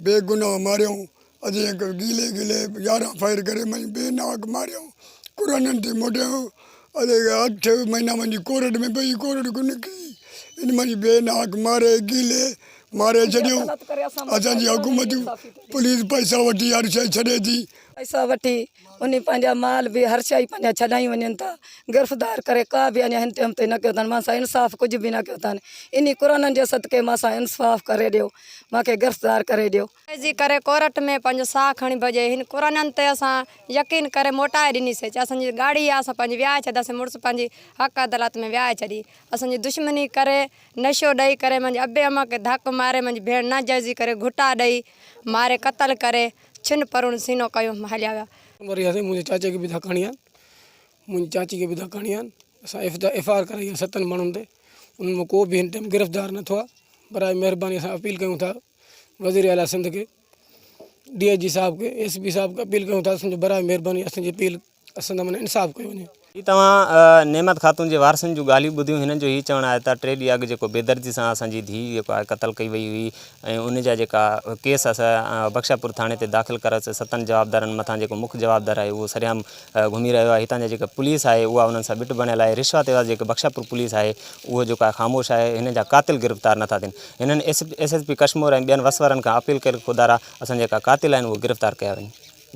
بي گناهه ماريائون اجي اک گيلي گيلي يارهن فائر ڪري مئن بي ناهڪ ماريائون قرانن تي موٽيائون اجي اٺ مهينا منهنجي ڪورٽ ۾ پئي ڪورٽ ڪو نڪري ان منهنجي بي ناهڪ ماري گيلي ماري ڇڏيائون اسان جي حڪومتون پوليس پئسا وٺي هر شئي ڇڏي ٿي. پئسا وٺي انهي پنهنجا مال به هر شيء پنهنجا ڇڏائي وڃن ٿا. گرفتار ڪري ڪا به اڃا هن ٽيم تائين نه ڪيو اٿن. مان سان انصاف ڪجهه به نه ڪيو اٿن. انهي قرآنن جي صدقي مان سان انصاف ڪري ڏيو. مان کي گرفتار ڪري ڏيو. عرضي ڪري ڪورٽ ۾ پنهنجو ساهه کڻي ڀڄي. هن قرآنن تي اسان يقين ڪري موٽائي ڏنيسين. چي اسان جي ڳاڙهي آ اسان پنهنجي ويهائي ڇڏينداسين. مڙس پنهنجي حق عدالت ۾ ويهائي ڇڏي. اسان جي دشمني ڪري، نشو ڏئي ڪري، منهنجي ابي امه کي ڌڪ ماري، منهنجي ڀيڻ ناجائزي ڪري گهوٽا ڏئي ماري قتل ڪري. ڇن پرون سينو ڪيو ھيم ھليا ويا. وري اسين منھنجي چاچي کي به ڌڪ ھڻيا آھن منھنجي چاچي کي به ڌڪ ھڻيا آھن اسان ايف ايف آر ڪرائي آھي ستن ماڻھن تي انھن مان ڪو به ھن ٽيم گرفتار نه ٿيو آھي براء مھرباني اسان اپيل ڪيون ٿا وزير اعليٰ سنڌ کي ڊي آء جي صاحب کي ايس پي صاحب کي اپيل ڪيون ٿا اسان جي براء مھرباني اسان جي اپيل اسان سان انصاف ڪيو وڃي. جي توهان نعمت خاتون جي وارثن جون ڳالهيون ٻڌيون، هنن جو هي چوڻ آهي ته ٽي ڏينهن اڳ جيڪو بيدردي سان اسان جي ڌيء جيڪو آهي قتل ڪئي وئي هئي ۽ ان جا جيڪا ڪيس اسان بخشاپور ٿاڻي تي داخل ڪرايوسي ستن جوابدارن مٿان جيڪو مک جوابدار آهي اهو سرعام گهمي رهيو آهي هتان جا جيڪا پوليس آهي اها انهن سان ٻٽ بڻيل آهي رشوت عيواض جيڪا بخشاپور پوليس آهي اهو جيڪو آهي خاموش آهي هنن جا قاتل گرفتار نٿا ٿين هنن ايس ايس پي ڪشمور ۽ ٻين وسورن کان اپيل ڪئي خدارا اسان جيڪا قاتل آهن اهي گرفتار ڪيا وڃن.